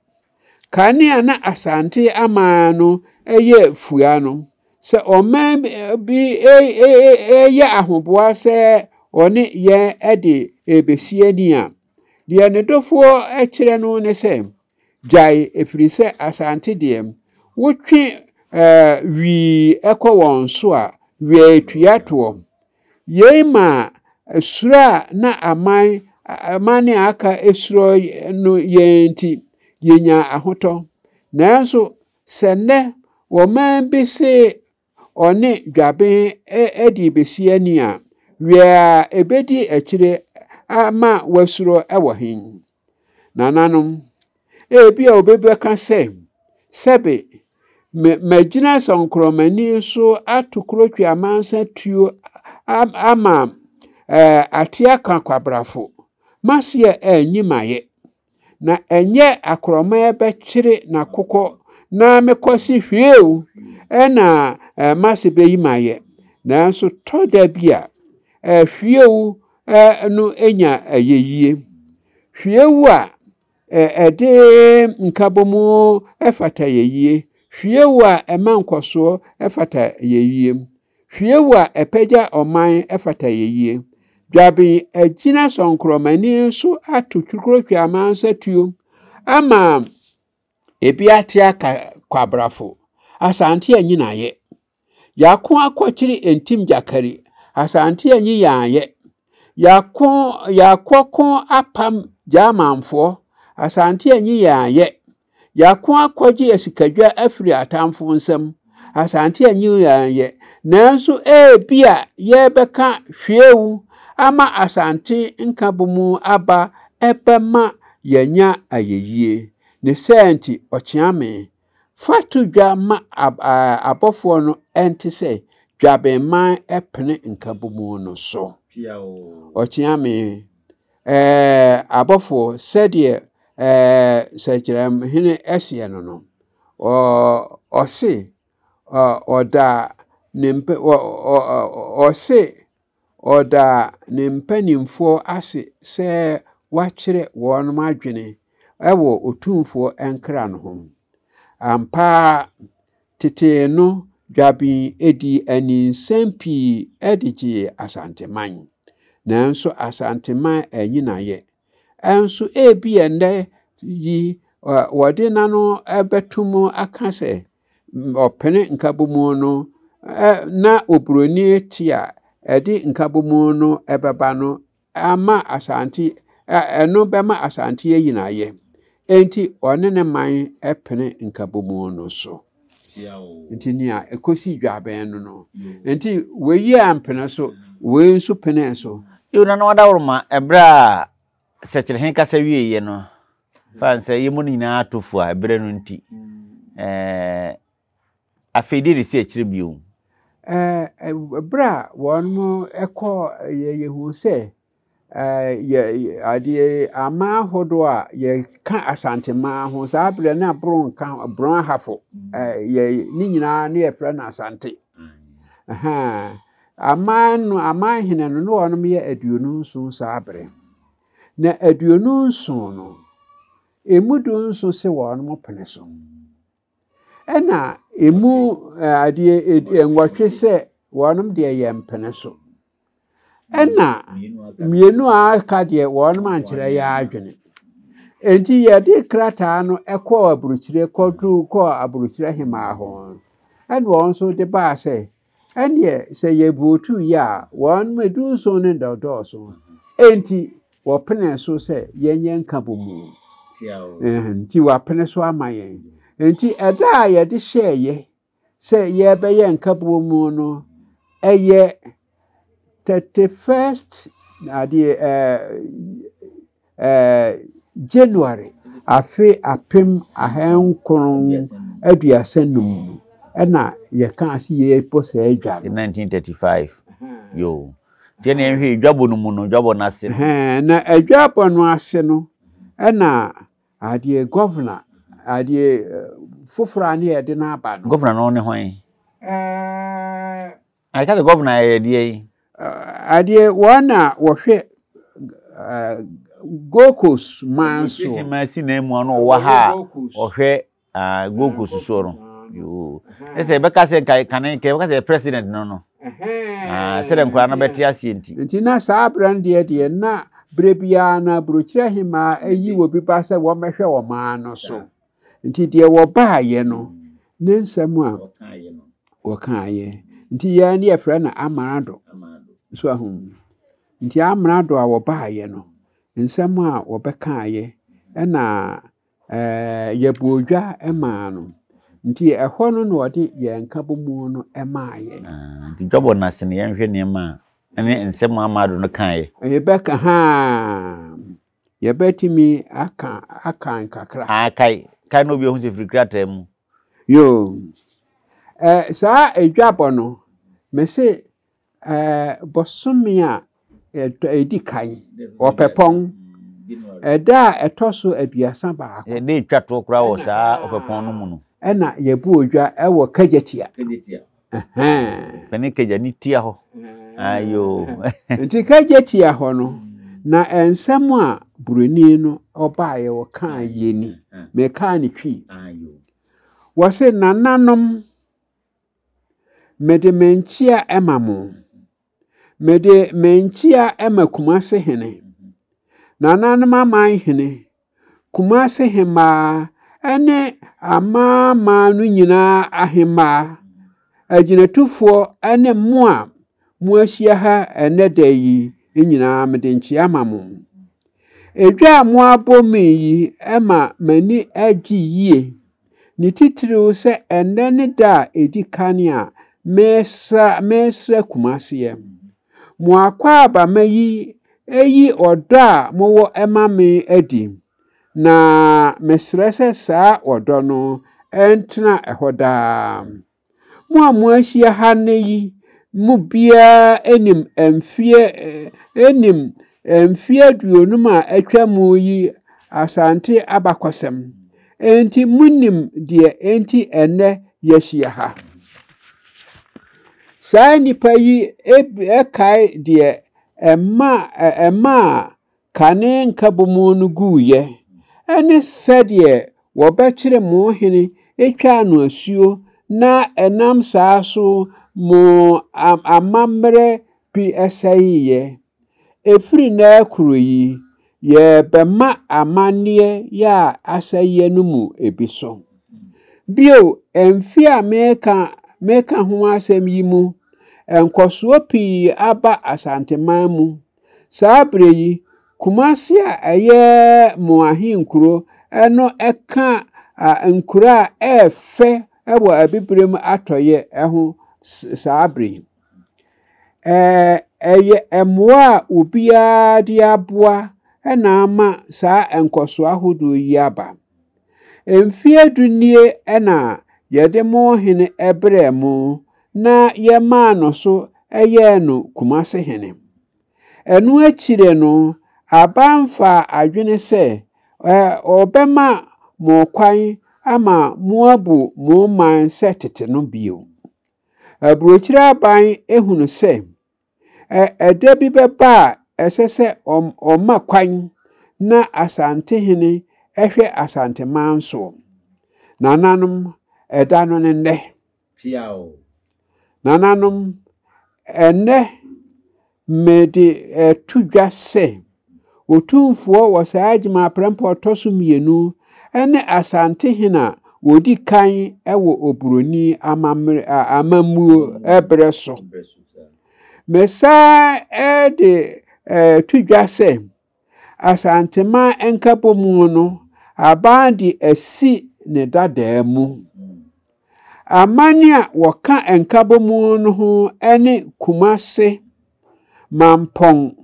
Kane a na Asante aman no yɛ fua no, sɛ ɔman bi reyɛ ahoboa sɛ ɔne yɛn de rebɛsi ani a, deɛ ne dɔfoɔ kyerɛ no ne sɛ, Gyae ɛfiri sɛ Asante deɛ wotwe wii kɔ wɔn so a wieatua toɔ. Yei maa suro a na aman aman a aka suro no yɛn nti yɛnyaa ahotɔ. Nanso sɛ nnɛ wɔn man bi se ɔne dwaben adi besi ani a, wiɛ a ebedi akyire ama wasuro wɔ he? Nananom, ebi a obi bɛka sɛ, sɛbe, magyina sɔnkorɔmani so ato kurotwe amansa tuo ama ateɛ aka kwabrafo, maseɛ anyi mayɛ. na ɛnyɛ akorɔmaa bɛkyere n'akokɔ na mekɔse hwee o, ɛna mase bɛyi mayɛ, nanso tɔ da bi a hwiewu no nya ayeyie. Hwiewu a ɛde nkabom fata ayeyie, hwiewu a ɛma nkɔsoɔ fata ayeyie. Hwiew a ɛpagya ɔman fata yɛyie. Dwaben agyina sɔnkorɔmani so ato twikurotwi amansa tuo ama ebi ate aka kwabrafo. Asante anyi n'ayɛ. Yako akɔkyere ntim gyakari. Asante anyi yɛn ayɛ. Yako yakɔko apam Germanfoɔ. Asante anyi yɛn ayɛ. Yɛako akɔgye asikadwa afiri atamfo nsam. Asante anyi yɛn yɛ, nanso ebia yɛbɛka hwiew ama Asante nkabom aba ɛbɛma yɛanya ayɛyie. Ne saa nti, Ɔkyeame, fa to dwa ma abɔfoɔ no ɛnte sɛ dwabenman ɛpene nkabom no so. Ɔkyeame, Ɛɛ, abɔfoɔ, sɛdeɛ ɛɛ sɛkyerɛmhene ɛseɛ no no, ɔse ɔda ne mpɛ ɔse ɔda ne mpanimfoɔ ase sɛ wakyerɛ wɔn adwene ɛwɔ Otumfoɔ nkra no ho. Ampa ara Tete no dwabin dii ani nsɛm pii de gyee Asanteman. Nanso Asanteman anyi n'ayɛ. Nso ebi ɛnnɛ yi wɔde n'ano bɛto mu aka sɛ ɔpene nkabomu no na oburoni te a ɛde nkabomu no bɛba no ama Asante, ɛno bɛma Asante ayi no ayɛ. Enti ɔne ne man pene nkabomu no so. Nti nea ɛkɔsi dwabɛn no no. Nti wei ampene so, wei nso penee so. Yiw, na na wɔadaworo ma bere a Sɛkyerɛhene kasa wieeɛ no, ɛfane sɛ yɛn mu no nyinaa atɔ fua bere no nti. Ɛɛ, Afei deɛ na ɛsi akyire bio. Ɛberɛ a wɔn ɛkɔ yɛ yɛhuu sɛ yɛ adeɛ aman ahodoɔ a yɛka asanteman ho saa berɛ na borɔ nka ho borɔ ahafo yɛ ne nyinaa ne yɛfrɛ no asante aman no aman hene no ne wɔn yɛ aduonu nson saa berɛ na aduonu nson no emu du nson se wɔn pene so. Ɛna emu adeɛ nwɔtwe sɛ wɔnom deɛ yɛ mpene so. Ɛna mmienu a aka deɛ wɔnom ankyerɛ yɛ adwene. Enti yɛde krataa no kɔɔ aburokyire kɔduru kɔɔ aburokyire hemaa hɔ. Ɛna wɔn nso de baa sɛ Ɛnneɛ sɛ yɛburotu yɛ a, wɔn mu edunson no na ɔdɔɔso. Enti wɔpenee so sɛ yɛnyɛ nkabomu. Nti wɔapene so ama yɛn. Enti ɛda a yɛde hyɛeɛ sɛ yɛbɛyɛ nkabomu no ɛyɛ 31st adeɛ ɛɛ. Ɛɛ January afe apem ahankron aduasa nnum mu na yɛkaa se yɛbɔ saa adwa no. 1935, yoo. Nti ɛnna yɛnhwɛ yɛ dwabɔ no mu no, dwabɔ no ase no. Ɛhɛn, na adwabɔ no ase no, ɛnna adeɛ gɔvena, adeɛ foforɔ a na yɛde no aba no. Gɔvena no ne hwan? Ɛɛ Na yɛka sɛ gɔvena yɛ deɛ yi. Adeɛ wɔn na wɔhwɛ Gold Coast man soɔ. Wɔsi hema si nan mu ano ɔwɔ ha a ɔhwɛ Gold Coast soɔ no. Yoo. Ne sɛ yɛbɛka sɛ nka kane nka yɛbɛka sɛ president no no. Sɛdeɛ nkwadaa no bɛte aseɛ nti. Nti na saa berɛ no deɛ deɛ na berɛ biara na burokyerɛ hema ayi wɔ bi ba sɛ wɔmmɛhwɛ wɔn ano so. nti deɛ wɔbaayɛ no ne nsɛm a wɔkaayɛ nti yɛn ne yɛfrɛ no amarado so ahu nti amarado a wɔbaayɛ no nsɛm a wɔbɛkaayɛ ɛna ɛɛ yɛbɔ odwa maa no nti ɛhɔ no na ɔde yɛn nkabomu no maa yɛn. Ah, nti dwabɔ no ase no yɛnhwɛ nneɛma a ɛne nsɛm a amarado no kaayɛ. Ɛbɛka haa. Yɛbɛtumi aka akan kakra. Ah, kae. Kae na obi ahu sɛ firi krataa mu. Yoo. Ɛ, saa adwabɔ no, mese ɛ, bosome a ɛtɔ ɛdi kan, ɔpɛpɔn, ɛda a ɛtɔ so aduasa baako. Yɛde twa toɔ koraa wɔ saa ɔpɛpɔn no mu no. Ɛna yɛbu odwa ɛwɔ Kagyatia. Kagyatia. Ɛne kagya ne tia hɔ. Ayo. Nti kagya tia hɔ no, na nsɛm a buroni no ɔbaeɛ ɔkaa yɛ ni. Mekaa ne twi. Wɔse nananom mede me nkyea ma mo. Mede mankyia ma Kumase hene, nananom aman hene, Kumase hemmaa ne amanaman no nyinaa ahemmaa, agyinatufoɔ ne mo a moahyia ha ɛnnɛ da yi nyinaa mede nkyia ma mo. Edwa a moabɔ me yi ma m'ani agye yie. ne titiriw sɛ ɛnnɛ ne da a edi kan a mesra mesra Kumaseɛ. Mo akwaabama yi ayi ɔdɔ a mowɔ ma me adi, na mesrɛ sɛ saa ɔdɔ no ntena hɔ daa. Mo a moahyia ha nnɛ yi mu biara nim mfeɛ nim mfeɛ aduonum a atwa mu yi Asante abakɔsɛm. Enti monim deɛ enti ɛnnɛ yɛahyia ha. Saa nnipa yi kae deɛ ɛmaa Kane nkabom no guiɛ ne sɛdeɛ wɔbɛkyere mo hene twaa no asuo na ɛnam saa so mo amammerɛ bi sɛeeɛ. Ɛfiri nnɛ rekoro yi, yɛrebɛma amanneɛ yɛ a asɛeɛ no mu bi so. Bio, mfe a mereka mereka ho asɛm yi mu, nkɔsoɔ pii aba Asanteman mu. Saa berɛ yi, Kumasi a ɛyɛ mo ahenkuro no ka nkuro a ɛyɛ fɛ wɔ Abibirem atɔeɛ ho saa berɛ yi. Ɛyɛ mmoa a obiara de aboa na ama saa nkɔsoɔ ahodoɔ yi aba. Mfeɛ du nie na yɛde mo hene brɛɛ mo na yɛmaa no so yɛɛ no Kumase hene. Ɛno akyire no, Aba mfaa adwene sɛ ɔbɛma mo kwan ama moabu mo man sɛ tete no bio. Aburokyire Aban hunu sɛ Ɛda bi bɛba a ɛsɛ sɛ wɔma kwan na Asantehene hwɛ Asanteman soɔ. Nananom, ɛda no ne nnɛ. Piaw. Nananom, ɛnnɛ mede to dwa sɛ. Otumfoɔ wɔ saa adwuma aprɛmpɛ a ɔtɔ so mmienu ne Asantehene a ɔdi kan wɔ Oburoni amammuo berɛ so. Mesan de to dwa sɛ, Asanteman Nkabɔmu no aban de asi ne dadaa mu. Aman a wɔka Nkabɔmu no ho ne Kumase, Mampɔn,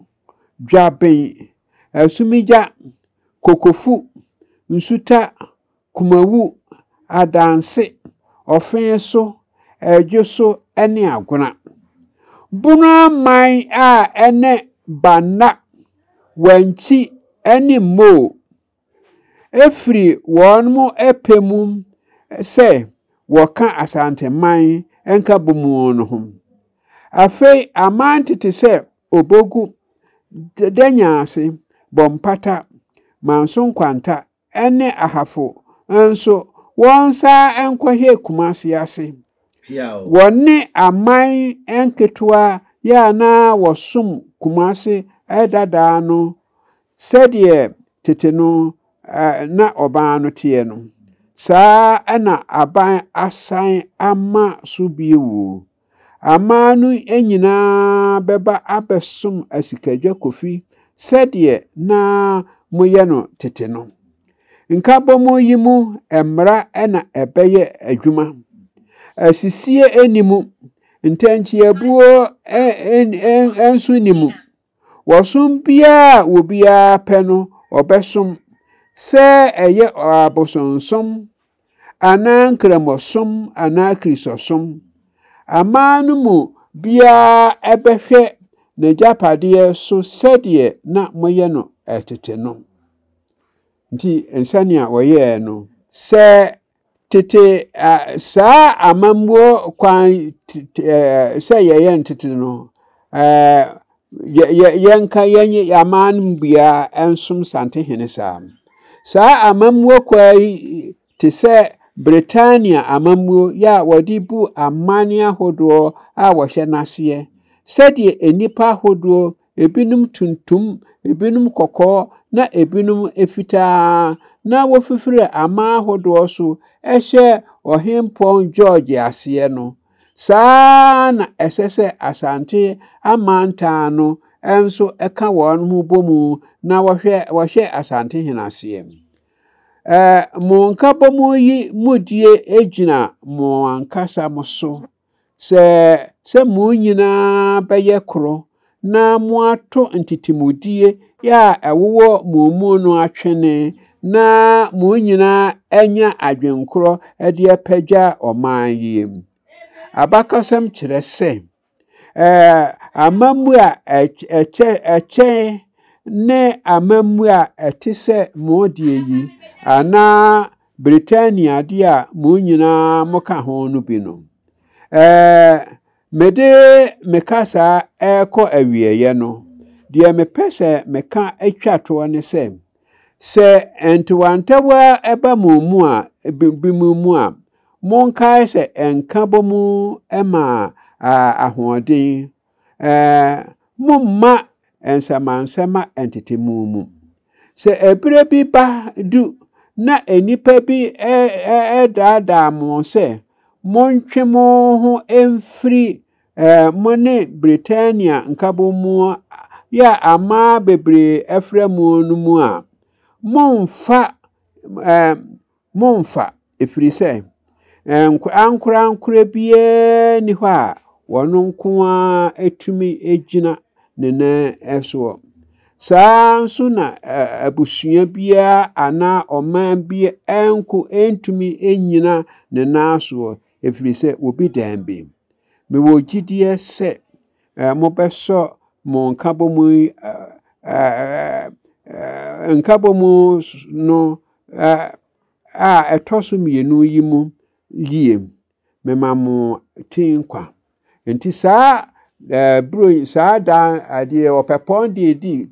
dwaben, asumigya, kokofu, nsuta, kumawu, adanse, ɔfee so, adwo so ne agona. Bono aman a ɛne Banna, Wankyi ne Moo firi wɔn pɛ mu sɛ wɔka Asanteman Nkabom no ho. Afei aman tete sɛ Obogu, Danyanse, Bompata, Manso Nkwanta ne Ahafo nso wɔnsan nkɔhwɛɛ Kumase ase. Wɔne aman nketewa yi a na wɔsom Kumase dada no Sɛdeɛ tete no na ɔbaa no teɛ no, saa na aban asan ama so bio. Amaa no nyinaa bɛba abɛsom asikadwa kofi sɛdeɛ na moyɛ no tete no. Nkabom yi mu mmara na ɛbɛyɛ adwuma. Asisie nni mu, ntɛnkyeabuo nso nni mu. Wɔsom biara a obiara pɛ no ɔbɛsom, sɛ ɛyɛ abosonsom anaa Nkramosom anaa Kristosom. Aman no mu biara bɛhwɛ n'agyapadeɛ so sɛdeɛ na moyɛ no tete no. Nti, sɛnea wɔyɛɛ no, sɛ Tete a, saa amammuo kwan sɛ yɛyɛ ntete no, yɛnka yɛnye aman no mu biara nsom santehene saa. Saa amammuo kwan yi te sɛ Britania amammuo yɛ a wɔde bu aman ahodoɔ a wɔhyɛ n'aseɛ sɛdeɛ nnipa ahodoɔ ebinom tuntum, ebinom kɔkɔɔ, na ebinom fitaa, na wofifiri aman ahodoɔ so hyɛ Ɔhempɔn George aseɛ no, saa ara na ɛsɛ sɛ Asante amantan no nso ka wɔn ho bɔ mu na wɔhwɛ wɔhyɛ Asantehene aseɛ. Ɛɛ, mo nkabɔmu yi mudie gyina mo ankasa mo so. Sɛ sɛ mo nyinaa bɛyɛ koro na moato ntetemudie a ɛwowɔ mo mu no atwene na mo nyinaa anya adwenkorɔ de apagya ɔman yi. Abakɔsɛm kyerɛ sɛ amammuo a ɛkyɛ ne amammuo a ɛte sɛ mo deɛ yi anaa Britania de a mo nyinaa moka ho no bi no. Ɛɛ, mede me kasa rekɔ awieeɛ no, deɛ mepɛ sɛ meka twa toɔ ne sɛ, sɛ ntewantewa ba mo mu a, binom mu a, monkae sɛ nka bɔ mu ma ahoɔden Momma nsɛmansɛma ntete mo mu. Sɛ ɛberɛ bi ba du na nnipa bi daadaa mo sɛ montwe mo ho mfiri mo ne Britania nkabɔmu a aman bebree afra mu no mu a, mommfa Mommfa, ɛfiri sɛ ankorankorɛ biara nni hɔ a ɔno nko ara tumi gyina ne nan soɔ. Saa ara nso na abusua biara anaa ɔman bi nko ntumi nnyina ne nan soɔ, ɛfiri sɛ wɔbi dan bi. Mewɔ gyidie sɛ eh, mobɛsɔ mo nkabɔmu yi eh, eh, nkabɔmu no eh, a ɛtɔ so mmienu yi mu yie mema mo ti nkwa nti saa eh, buro yi saa daa adeɛ ɔpɛpɔn deɛ di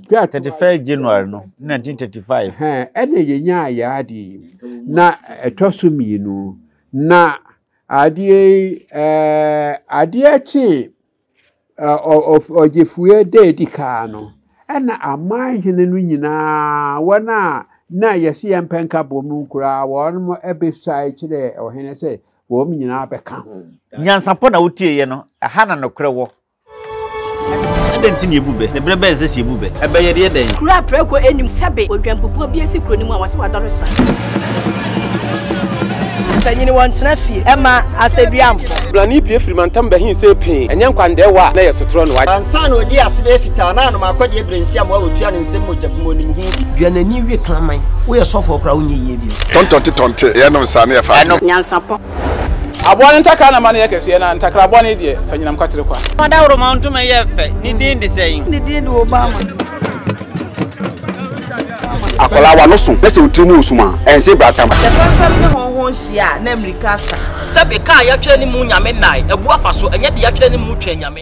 dwa thirty five january no nineteen thirty five ɛna yɛnya ayɛ adeɛ na ɛtɔ so mmienu na Adeɛ yi, eh, adeɛ kyee ɔgyefue da edi kaa no, ɛna aman hene no nyinaa, wɔn a na yɛsi yɛn mpɛ nka bom no koraa, wɔn mo ɛbesae kyerɛ ɔhene sɛ wɔn nyinaa bɛka ho. Nyansapɔ na wotieɛ no, ɛha na nokorɛ wɔ. Ɛdɛ nti na ebu bɛ? Ne berɛ bɛn sɛ si ebu bɛ? Ɛbɛ yɛ deɛ dɛn? Kura prɛko anim sɛbe odwanpopɔn bi asi kuro no mu a wɔse wadɔre sra. Mpanyini wɔn tena fie ɛma asɛduamfo. Blani pie firi mantam bɛhin sɛ pee ɛnyɛ nkwandɛɛwa a na yɛ sotorɔ no wagye. Ansa na ɔdi ase bɛyɛ fitaa na anom akɔ deɛ brensi amoa wɔtua no nsɛm mogya gu mu ɔnim ho bi. Dua n'ani we kraman. Woyɛ sɔfoɔ koraa wonyɛ yie bio. Tɔntɔnte tɔnte yɛnom saa na yɛfa adwene. Nyansapɔ. Aboa no ntakra na ma no yɛ kɛseɛ, na ntakra bɔne deɛ, fa nyinam kwatere kwa. Fa dawuroma ntoma yɛ fɛ, ne din de sɛn? Ne din de Obama. Akwadaa wa no so na sɛ otiri mu osum a ɛnsee bratam. Sɛ fɛmfɛm ne hɔnho nhyia a na mmirika asa. Sɛbe kaa yɛtwɛn ne mu Nyame nnae, abu afa so, ɛnyɛ de yɛtwɛn ne mu twɛn Nyame.